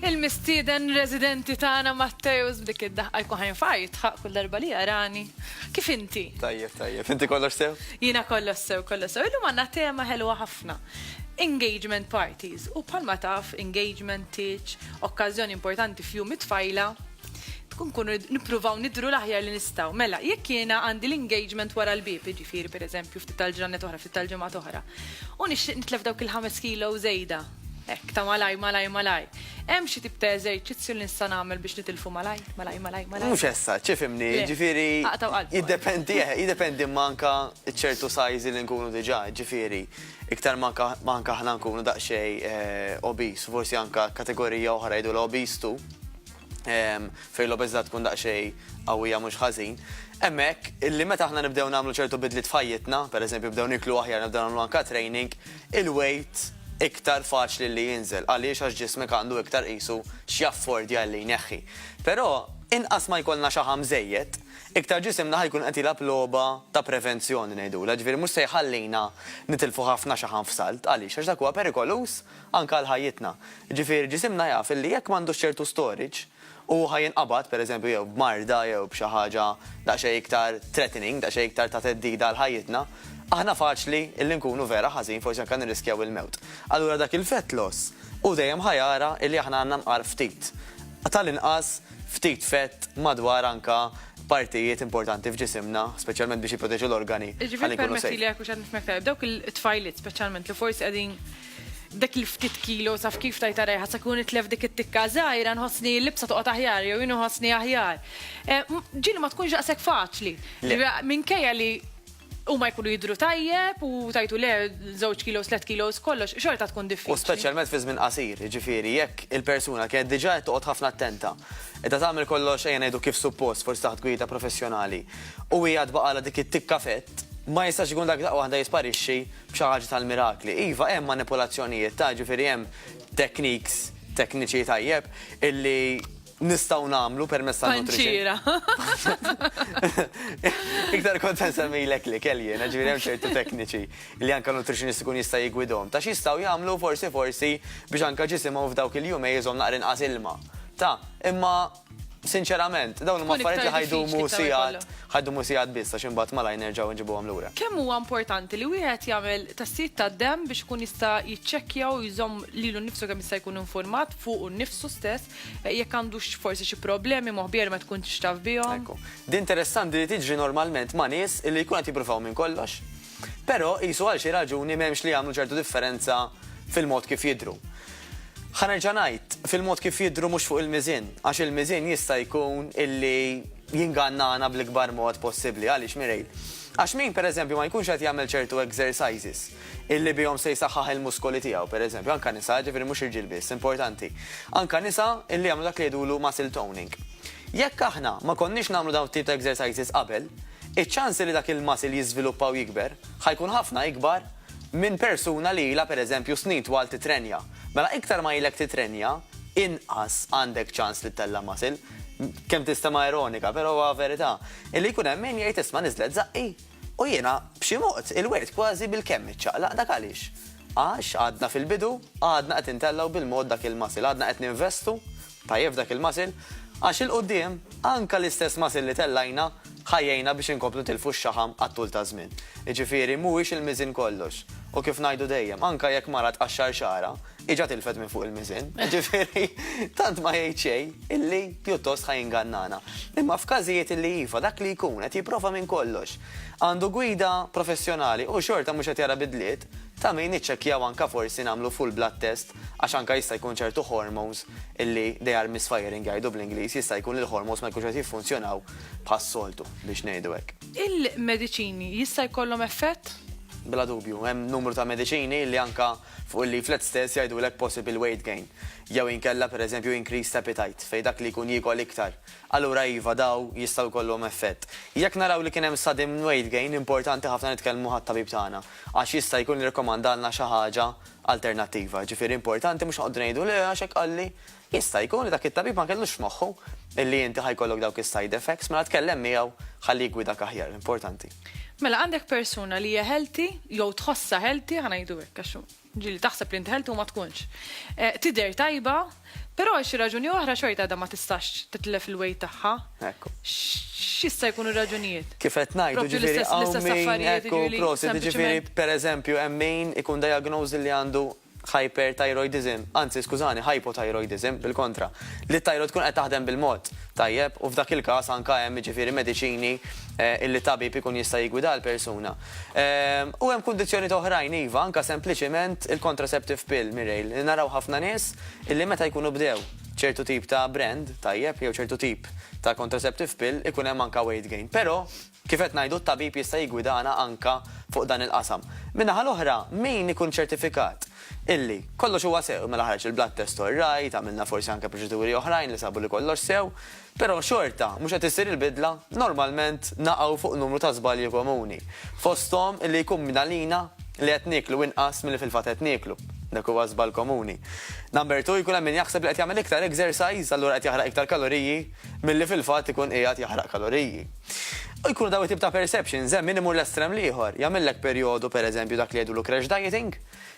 Il-mistieden residenti tagħna Matteus b'dik id-daħqa jkun ħajn fajt ħaq kull darba li jarani. Kif inti? Tajjeb, tajjeb. Inti kollox sew? Jiena kollox sew, kollox sew. Illum għandna tema ħelwa ħafna. Engagement parties u palma taf engagement teach, okkazjoni importanti f'jum it-tfajla tkun kunu nippruvaw nidru l-aħjar li nistaw. Mela, jekk jiena għandi l-engagement wara l-bib, ġifiri per eżempju, ftit tal-ġranet oħra, ftit tal-ġemgħat oħra, u nixtieq nitlef dawk il-5 kilo żejda. Ek, ta' malaj, malaj, malaj. Hemm xi tip ta' eżerċizzju li nista' nagħmel biex nitilfu malaj, malaj, malaj, malaj. Mhux essa, ċifimni, ġifieri. Jiddependi, eh, jiddependi manka ċertu sajzi li nkunu diġà, ġifieri. Iktar manka manka ħna nkunu daqsxejn eh, obis, forsi anka kategorija oħra jdu l-obis tu. ehm, fejn l-obeżità tkun daqsxejn qawwija mhux ħażin. Hemmhekk illi meta aħna nibdew nagħmlu ċertu bidliet f'ħajjitna, pereżempju bdew niklu aħjar nibdew nagħmlu anka training, il-weight iktar faċli li jinżel għaliex għax ġismek għandu iktar qisu x'jaffordja li jneħħi. Però inqas ma jkollna xi ħamżejjed, iktar ġisimna ħajkun qed jilab logħba ta' prevenzjoni ngħidu, ġifieri mhux se jħallina nitilfu ħafna xaħan f'salt għaliex għax dak huwa perikoluż anke għal ħajjitna. Jiġifieri ġisimna jaf illi jekk m'għandux ċertu storage u hu ħa jinqabad, pereżempju jew b'marda jew b'xi ħaġa daqsxejn iktar threatening, daqsxejn iktar ta' theddida għal ħajjitna, aħna faċli illi nkunu vera ħażin, forsi anke nirriskjaw il-mewt. Allura dak il-fat loss hu dejjem ħa jara illi aħna għandna nqar ftit, tal-inqas, ftit fett madwar anka partijiet importanti f'ġisimna, speċjalment biex jipproteġu l-organi. Jiġifieri permettili jekk mhux qed nifhmek tajjeb, dawk it-tfajliet speċjalment li forsi qegħdin dak il-ftit kilos taf kif tajta rejħa sa kun itlef dik it-tikka żgħira nħossni l-libsa toqgħod aħjar jew jien inħossni aħjar. Ġieli ma tkunx daqshekk faċli. Minkejja li huma jkunu jidhru tajjeb u tajtu le żewġ kilos, tliet kilos kollox, xorta tkun diffiċli. U speċjalment fi żmien qasir, jiġifieri jekk il-persuna kienet diġà qed toqgħod ħafna attenta, qiegħda tagħmel kollox ejja ngħidu kif suppost forsi taħt gwida professjonali, u hija tbaqgħalha dik it-tikka fett, ma jistax ikun dak daqqa waħda jisparixxi b'xi ħaġa tal-mirakli. Iva, hemm manipulazzjonijiet ta' jiġifieri hemm techniques tekniċi tajjeb illi nistgħu nagħmlu permezz ta' Panċira. Iktar kont nsemmilek li kelli jiena ġifieri hemm ċertu tekniċi li anke nutritionist ikun jista' jigwidhom ta' x'jistgħu jagħmlu forsi forsi biex anke ġisimhom f'dawk il-jumej iżomm naqra inqas ilma. Ta' imma sinċerament dawn huma affarijiet li ħajdumu sigħat ħajdumu sigħat biss għax imbagħad malajr nerġgħu nġibuhom lura. Kemm huwa importanti li wieħed jagħmel tassijiet tad-demm biex ikun jista' jiċċekkja u jżomm lilu nnifsu kemm jista' jkun infurmat fuqu nnifsu stess Eh, jekk għandux forsi xi problemi moħbija li ma tkunx taf bihom. Din interessanti li tiġri normalment ma' nies li jkun qed jippruvaw minn kollox. Però qisu għal xi raġuni m'hemmx li jagħmlu ċertu differenza fil-mod kif jidru. Ħanerġa' ngħid fil-mod kif jidru mhux fuq il-miżin, għax il-miżin jista' jkun illi jingannana bl-ikbar mod possibbli għaliex mirejl. Għax min pereżempju ma jkunx qed jagħmel ċertu exercises illi bihom se jsaħħaħ il-muskoli tiegħu, pereżempju, anke nisa, ġifieri mhux irġiel biss, importanti. Anke nisa illi jagħmlu dak li jgħidulu muscle toning. Jekk aħna ma konniex nagħmlu dawn it-tip ta' exercises qabel, iċ-ċansi li dak il-muscle jiżviluppa u jikber ħa jkun ħafna ikbar minn persuna li ilha, pereżempju, snin twal titrenja. Mela iktar ma ilek titrenja, inqas għandek ċans li ttella' muscle. Kemm tistema' ironika, però huwa verità. Illi jkun hemm min jgħid isma' niżlet żaqqi. U jiena, b'xi mod, il-wirt kważi bilkemm iċċaqlaq. Dak għaliex? Għax għadna fil-bidu, għadna qed intellgħu bil-mod dak il-muscle, għadna qed ninvestu tajjeb f'dak il-muscle, għax 'il quddiem, anke l-istess muscle li tellgħajna, ħa jgħinna biex inkomplu nitilfu x-xaħam għat-tul taż-żmien. Jiġifieri, mhuwiex il-miżien kollox. U kif ngħidu dejjem, anke jekk mara tqaxxar xagħarha, Iġa tilfet minn fuq il-miżin, ġifiri, tant ma jgħid xejn illi pjuttost ħaj ingannana. Imma f'każijiet illi jifa dak li jkun qed jipprova minn kollox. Għandu gwida professjonali u xorta mhux qed jara bidliet, ta' min niċċekkjaw anke forsi nagħmlu full blood test għax anke jista' jkun ċertu hormones illi they are misfiring jgħidu bl-Ingliż, jista' jkun li l-hormones ma jkunx qed jiffunzjonaw bħas-soltu biex ngħidu hekk. Il-mediċini jista' jkollhom effett? Bla dubju, hemm numru ta' mediċini li anke Fuq il-leaflet stess jgħidulek possible weight gain, jew inkella per eżempju increased appetite, fejn dak li jkun jiekol iktar. Allura iva, dawn jistgħu jkollhom effett. Jekk naraw li kien hemm sudden weight gain, importanti ħafna nitkellmu ħat-tabib tagħna, għax jista' jkun irrekomandalna xi ħaġa alternattiva. Ġifieri importanti mhux noqogħdu ngħidu le għax hekk qalli. Jista' jkun li dak it-tabib ma kellux f'moħħu li inti ħa jkollok dawk is-side effects, mela tkellem miegħu ħalli jiggwidak aħjar, importanti. Mela għandek persuna li hija healthy jew tħossha healthy, ħa ngħidu hekk għax ġieli taħseb li inti healthy u ma tkunx. Eh, tidher tajba, però xi raġuni oħra xorta għadha ma tistax titlef il-wejt tagħha. Ekku. X'issa jkunu raġunijiet? Kif qed ngħidu ġifieri hawn min ekku prosi, ġifieri pereżempju hemm min ikun diagnosi li għandu hyperthyroidism, anzi skużani, hypothyroidism, bil-kontra, li t-tajroid tkun qed taħdem bil-mod tajjeb u f'dak il-każ anke hemm jiġifieri mediċini illi tabib ikun jista' jiggwida l-persuna. U hemm kundizzjonijiet oħrajn iva, anke sempliċiment il-contraceptive pill, Mireille, li naraw ħafna nies illi meta jkunu bdew ċertu tip ta' brand tajjeb jew ċertu tip ta' contraceptive pill ikun hemm anke weight gain. Però. Kif qed ngħidu, t-tabib jista' jiggwidana anke fuq dan il-qasam. Min-naħa l-oħra, min ikun ċertifikat illi kollox huwa sew, mela ħareġ il-blood test all right, għamilna forsi anke proċeduri oħrajn li sabu li kollox sew, però xorta mhux qed issir il-bidla, normalment naqgħu fuq numru ta' żbalji komuni. Fosthom illi jkun minn għalina li qed nieklu inqas milli fil-fatt qed nieklu. Dak huwa żball komuni. Number two, jkun hemm min jaħseb li qed jagħmel iktar exercise, allura qed jaħraq iktar kaloriji milli fil-fatt ikun qiegħed jaħraq kaloriji. U jkunu dawn it-tip ta' perceptions hemm min imur l-estrem l-ieħor, jagħmillek perjodu, pereżempju, dak li jgħidulu crash dieting,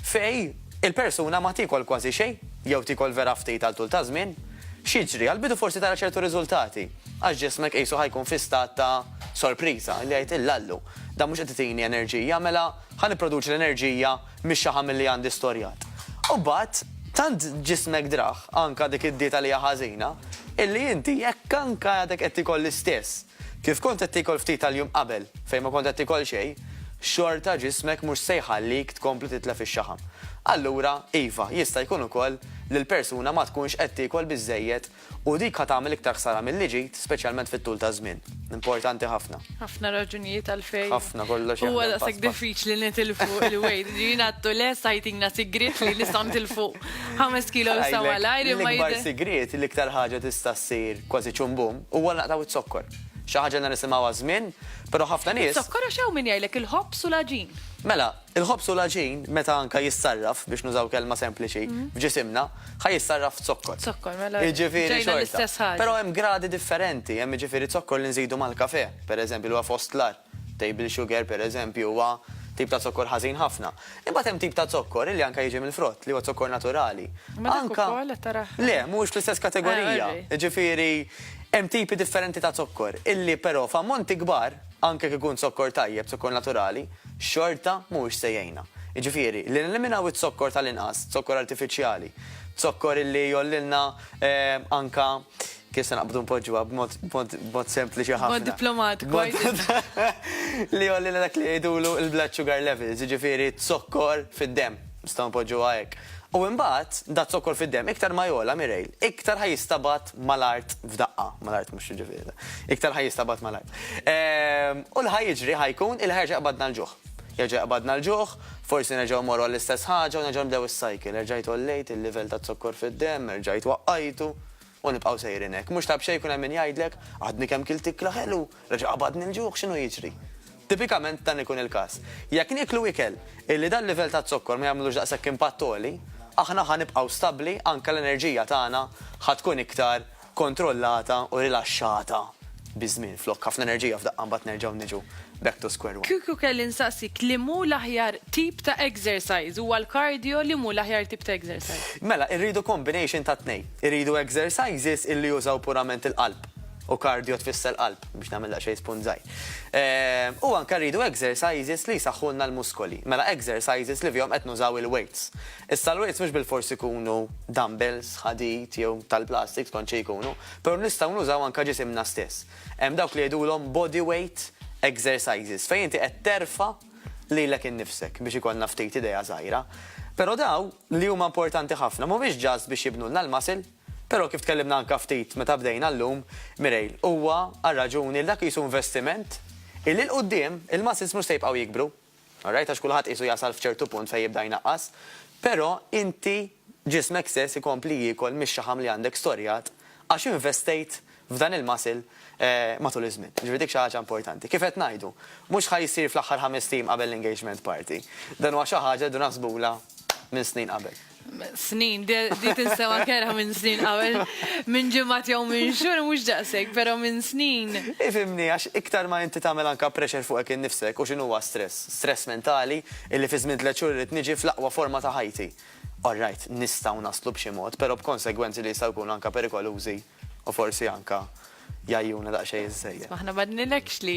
fejn il-persuna ma tiekol kważi xejn, jew tiekol vera ftit għal tul ta' żmien. X'jiġri? Għall-bidu forsi tara ċertu riżultati, għax ġismek qisu ħa jkun fi stat ta' sorpriża, li jgħid illallu, dan mhux qed itini enerġija, mela ħa nipproduċi l-enerġija Mhix xi ħamil li għandi storjat. U mbagħad, tant ġismek draħ, anka dik id-dieta li hija ħażina, illi inti jekk anka għadek qed tikol l-istess kif kont qed tikol ftit tal-jum qabel, fejn ma kont qed tikol xejn, xorta ġismek mhux se jħallik tkompli titlef ix-xaħam. Allura, iva, jista' jkun ukoll li l-persuna ma tkunx qed tikol biżżejjed U dik ħa tagħmel iktar ħsara milli ġid, speċjalment fit-tul taż-żmien. Importanti ħafna. Ħafna raġunijiet għalfejn. Ħafna, kollox jaħdem. Huwa daqshekk diffiċli nitilfu l-weight. Jiena għadtu lest ħajtina sigriet li nista' nitilfu ħames kilos sa malajr imma. L-ikbar sigriet, l-iktar ħaġa tista' ssir kważi ċumbum, huwa naqtgħu z-zokkor. Xi ħaġa li nisimgħu għaż-żmien, però ħafna nies. Iż-zokkor għax hawn min jgħidlek il-ħobż u l-għaġin. Mela, Il-ħobż u l-għaġin, meta anke jissarraf, biex nużaw kelma sempliċi, f'ġisimna, ħa jissarraf f'zokkor. Zokkor, mela. Jiġifieri xorta. Però hemm gradi differenti, hemm jiġifieri zokkor li nżidu mal-kafè, pereżempju, li huwa fost l-agħar. Table sugar, pereżempju, huwa tip ta' zokkor ħażin ħafna. Imbagħad hemm tip ta' zokkor illi anke jiġi mill-frott, li huwa zokkor naturali. Ma dak ukoll qed tarah. Le, mhuwiex fl-istess kategorija. Jiġifieri hemm tipi differenti ta' zokkor illi però f'ammonti kbar, anke jekk ikun zokkor tajjeb, zokkor naturali, xorta mhuwiex se jgħinna. Jiġifieri, li neliminaw iz-zokkor tal-inqas, zokkor artifiċjali, zokkor illi jgħollilna anke, kif se naqbdu npoġġuha b'mod, b'mod, b'mod sempliċi ħafna. B'mod diplomatiku għidilna. Li jgħollilna dak li jgħidulu il-blood sugar levels, jiġifieri z-zokkor fid-demm, nistgħu npoġġuha hekk. U imbagħad, da' zokkor fid-demm iktar ma jgħola, Mireille, iktar ħa jistabgħat mal-art f'daqqa, mal-art mhux jiġifieri. Iktar ħaj jistabad mal-art. Ehm, u l-ħaj jiġri ħajkun il ħerġa qabadna l-ġuħ. Jerġa' qabadna l-ġuħ, forsi nerġgħu morru għall-istess ħaġa u nerġgħu nbdew is-cycle. Erġajt ollejt il-livell ta' zokkor fid-demm, erġajt waqqajtu u nibqgħu sejrin hekk. Mhux ta' b'xejn kun hemm min jgħidlek, għadni kemm kilt ikla ħelu, Reġa' qabadni l-ġuħ, x'inhu jiġri? Tipikament dan ikun il-każ. Jekk nieklu ikel illi dal-livell ta' zokkor ma jagħmlux daqshekk impatt għoli, aħna ħa nibqgħu stabbli anke l-enerġija tagħna ħa tkun iktar kontrollata u rilaxxata biż-żmien flok ħafna enerġija f'daqqa mbagħad nerġgħu niġu back to square one. Kieku kelli nsaqsik li mhu l-aħjar tip ta' exercise, huwa l-cardio li mhu l-aħjar tip ta' exercise? Mela irridu combination tat-tnejn. Irridu exercises illi jużaw purament il-qalb. u cardio tfisser qalb, biex nagħmel daqsxejn spunt żgħir. U anke rridu exercises li jsaħħulna l-muskoli, mela exercises li fihom qed nużaw il-weights. Issa l-weights mhux bilfors ikunu dumbbells, ħadid jew tal-plastik, skont xi jkunu, però nistgħu nużaw anke ġisimna stess. Hemm dawk li jgħidulhom body weight exercises, fejn inti qed terfa' lilek innifsek, biex ikollna ftit idea żgħira. Però dawn, li huma importanti ħafna, mhumiex just biex jibnulna l-muscle, Però kif tkellimna anke ftit meta bdejna llum, Mireille, huwa għar-raġuni li dak qisu investiment illi 'l quddiem il-muscles mhux se jibqgħu jikbru, all right, għax kulħadd qisu jasal f'ċertu punt fejn jibda jnaqqas, però inti ġismek stess ikompli jiekol mix-xaħam li għandek storjat għax investejt f'dan il-muscle matul iż-żmien. Jiġifieri dik xi ħaġa importanti. Kif qed ngħidu, mhux ħa jsir fl-aħħar ħamest ijiem qabel l-engagement party. Dan huwa xi ħaġa rridu naħsbulha minn snin qabel. Snin, di tinsema' kerha minn snin qabel, minn ġimgħat jew minn xhur mhux daqshekk, però minn snin. Ifhimni, għax iktar ma inti tagħmel anke pressure fuqek innifsek, u x'inhuwa stress? Stress mentali, illi fi żmien tliet xhur irrid niġi fl-aqwa forma ta' ħajti. All right, nistgħu naslu b'xi mod, però b'konsegwenzi li jistgħu jkunu anke perikolużi. U forsi anka jajjuna daqxej iż-żejja. Ma ħna madnilekx li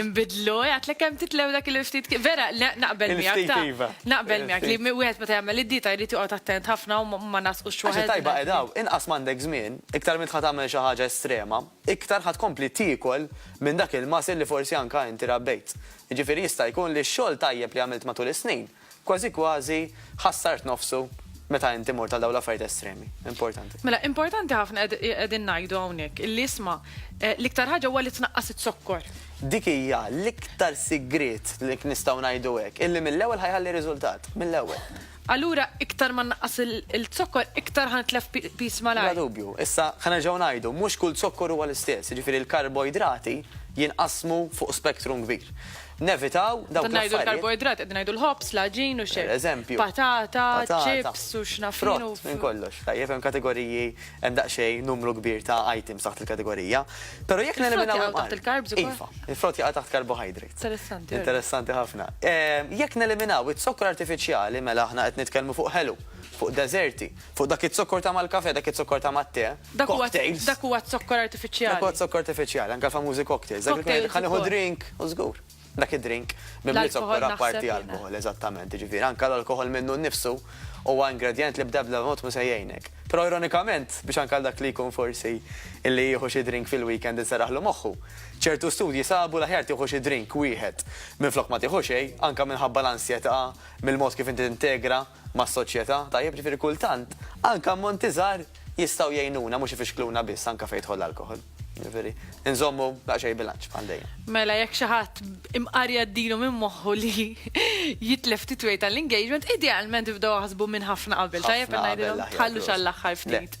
imbidlu, għatlek kem titlew dak il-ftit, vera, naqbel miegħek. Iva. Naqbel miegħek li wieħed meta jagħmel id-dieta jrid joqgħod attent ħafna u ma nasqux xogħol. Tajba qedaw, inqas m'għandek żmien, iktar minn tħad tagħmel xi ħaġa estrema, iktar ħad kompli tiekol minn dak il-muscle li forsi anka inti rabbejt. Jiġifieri jista' jkun li x-xogħol tajjeb li għamilt matul is-snin Kważi kważi ħassart nofsu meta inti mort għal dawn l-affarijiet estremi. Importanti. Mela, importanti ħafna qegħdin ngħidu hawnhekk illi isma' l-iktar ħaġa huwa li tnaqqas iz-zokkor. Dik hija l-iktar sigriet li nistgħu ngħidu hekk, illi mill-ewwel ħa jħalli riżultat, mill-ewwel. Allura iktar ma nnaqqas il-zokkor iktar ħa nitlef piż malajr. Bla dubju. Issa ħa nerġgħu ngħidu, mhux kull zokkor huwa l-istess, jiġifieri l-karboidrati jinqasmu fuq spektrum kbir. Nevitaw dawk l-affarijiet. Meta ngħidu l-karboidrati qegħdin ngħidu l-ħobż, l-għaġin u x'hekk. Pereżempju. Patata, chips u x'naf jien. Frott minn kollox. Tajjeb, hemm kategoriji, hemm daqsxejn numru kbir ta' items taħt il-kategorija. Però jekk neliminaw. Il-frott jaqa' taħt il-carbs ukoll? Iva, il-frott jaqa' taħt carbohydrates. Interessanti. Interessanti ħafna. Jekk neliminaw iz-zokkor artifiċjali mela aħna qed nitkellmu fuq ħelu, fuq deżerti, Fuq dak iz-zokkor ta' mal-kafè, dak iz-zokkor ta' mat-te. Dak huwa Cocktails. dak huwa z-zokkor artifiċjali. Dak huwa z-zokkor artifiċjali, anke l-famużi cocktails. Dak li tkun qed Cocktails tgħid ħa nieħu ukoll. drink, u żgur. Dak id-drink mimli L-alkoħol zokkor naħseb apparti jiena. alkoħol, eżattament. Jiġifieri anke l-alkoħol minnu nnifsu huwa ingredjent li bl-ebda ebda mod mhu se jgħinek. Però ironikament, biex anke għal dak li jkun forsi li jieħu xi drink fil-weekend inserraħlu moħħu, ċertu studji sabu l-aħjar tieħu xi drink wieħed minflok ma tieħu xejn, anke minħabba l-ansjetà, mill-mod kif inti tintegra. mas-soċjetà, tajjeb, jiġifieri kultant anke ammonti żgħar jistgħu jgħinuna mhux ifixkluna biss anke fejn jidħol l-alkoħol. Jiġifieri inżommu daqsxejn bilanċ bħal dejjem. Mela jekk xi ħadd imqar jgħaddilu minn moħħu li jitlef ftit weight għall-engagement, idealment ibdew aħsbu minn ħafna qabel, tajjeb li ngħidilhom tħallux għall-aħħar ftit.